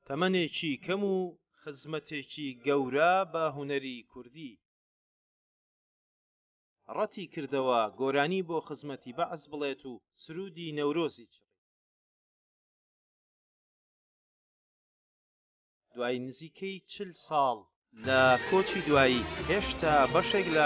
تەمەنێکی کەم و خزمەتێکی گەورە بە هونەری کوردی ڕەتی کردەوە گۆرانی بۆ خزمەتی بەعس بڵێت و سرودی نەورۆزی چڕی دوای نزیکەی چل ساڵ لە کۆچی دوایی هێشتا بەشێک لە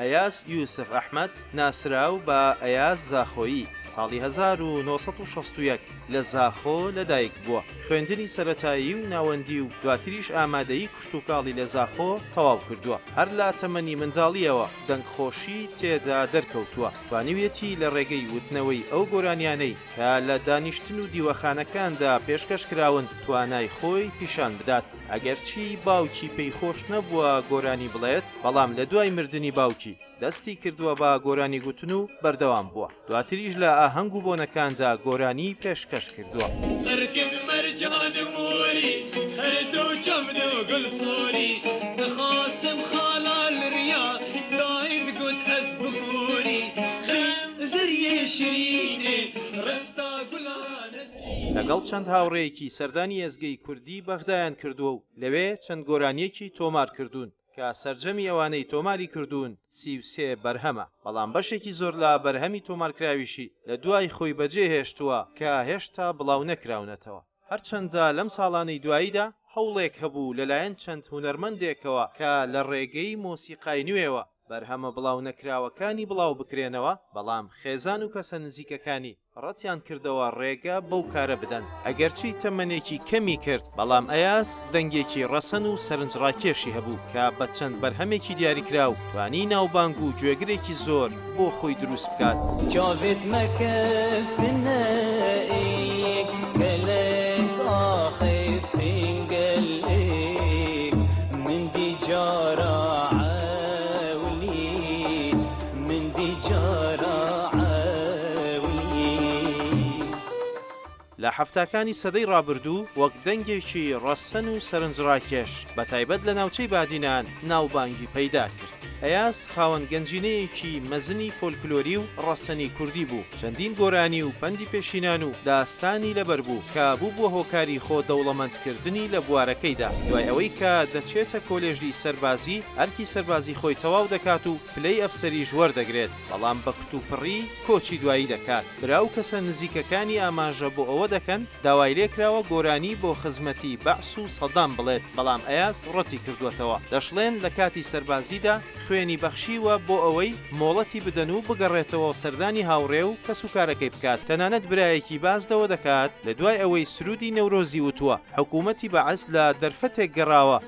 ئەیاز یوسف ئەحمەد ناسراو بە ئەیاز زاخۆیی، ساڵی هەزار و نۆ سەد و شەست و یەک لە زاخۆ لەدایک بووە، خوێندنی سەرەتایی و ناوەندی و دواتریش ئامادەیی کشتوکاڵی لە زاخۆ تەواو کردووە، هەر لە تەمەنی منداڵییەوە دەنگخۆشی تێدا دەرکەوتووە، توانیویەتی لە ڕێگەی وتنەوەی ئەو گۆرانیانەی کە لە دانیشتن و دیوەخانەکاندا پێشکەش کراون توانای خۆی پیشان بدات. ئەگەرچی باوکی پێی خۆش نەبووە گۆرانی بڵێت، بەڵام لە دوای مردنی باوکی، دەستی کردووە بە گۆرانی گوتن و بەردەوام بووە، دواتریش لە ئاهەنگ و بۆنەکاندا گۆرانیی پێشکەش کردووە. لەگەڵ چەند هاوڕێیەکی سەردانی ئێزگەی کوردی بەغدایان کردووە و لەوێ چەند گۆرانییەکی تۆمار کردوون کە سەرجەمی ئەوانەی تۆماری کردوون سی و سێ بەرهەمە، بەڵام بەشێکی زۆر لە بەرهەمی تۆمارکراویشی لە دوای خۆی بەجێ هێشتووە کە هێشتا بڵاو نەکراونەتەوە. هەرچەندە لەم ساڵانەی دواییدا هەوڵێک هەبوو لەلایەن چەند هونەرمەندێکەوە کە لە ڕێگەی مۆسیقای نوێوە بەرهەمە بڵاو نەکراوەکانی بڵاو بکرێنەوە، بەڵام خێزان و کەسە نزیکەکانی، ڕەتیان کردەوە ڕێگە بەو کارە بدەن، ئەگەرچی تەمەنێکی کەمی کرد، بەڵام ئەیاس دەنگێکی ڕەسەن و سەرنجڕاکێشی هەبوو کە بە چەند بەرهەمێکی دیاریکراو توانی ناوبانگ و گوێگرێکی زۆر بۆ خۆی دروست بکات. چاوێت مەکەس لە حەفتاکانی سەدەی ڕابردوو وەک دەنگێکی ڕەسەن و سەرنجڕاکێش بە تایبەت لە ناوچەی بادینان ناوبانگی پەیدا کرد. ئەیاز خاوەن گەنجینەیەکی مەزنی فۆلکلۆری و ڕەسەنی کوردی بوو، چەندین گۆرانی و پەندی پێشینان و داستانی لەبەر بوو کە بووبووە هۆکاری خۆ دەوڵەمەندکردنی لە بوارەکەیدا. دوای ئەوەی کە دەچێتە کۆلێژی سەربازی ئەرکی سەربازی خۆی تەواو دەکات و، پلەی ئەفسەریش وەردەگرێت، بەڵام بە کوتوپڕی کۆچی دوایی دەکات. برا و کەسە نزیکەکانی ئاماژە بۆ ئەوە دەکەن، داوای لێکراوە گۆرانی بۆ خزمەتی بەعس و سەدام بڵێت، بەڵام ئەیاز ڕەتی کردووەتەوە. دەشڵێن لە کاتی سەربازیدا خوێنی بەخشیوە بۆ ئەوەی مۆڵەتی بدەن و بگەڕێتەوە سەردانی هاوڕێ و کەسوکارەکەی بکات. تەنانەت برایەکی باس لەوە دەکات، لە دوای ئەوەی سروودی نەورۆزی وتووە، حکوومەتی بەعس لە دەرفەتێک گەڕاوە،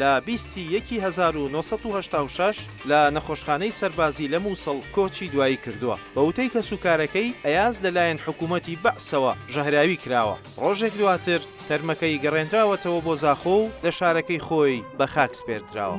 لە بیست ی یەکی هەزار و نۆ سەد و هەشتا و شەش لە نەخۆشخانەی سەربازی لە موسڵ کۆچی دوایی کردووە. بە وتەی کەسوکارەکەی، ئەیاز لەلایەن حکوومەتی بەعسەوە ژەهراوی کراوە. ڕۆژێک دواتر تەرمەکەی گەڕێنراوەتەوە بۆ زاخۆ و لە شارەکەی خۆی بە خاک سپێردراوە.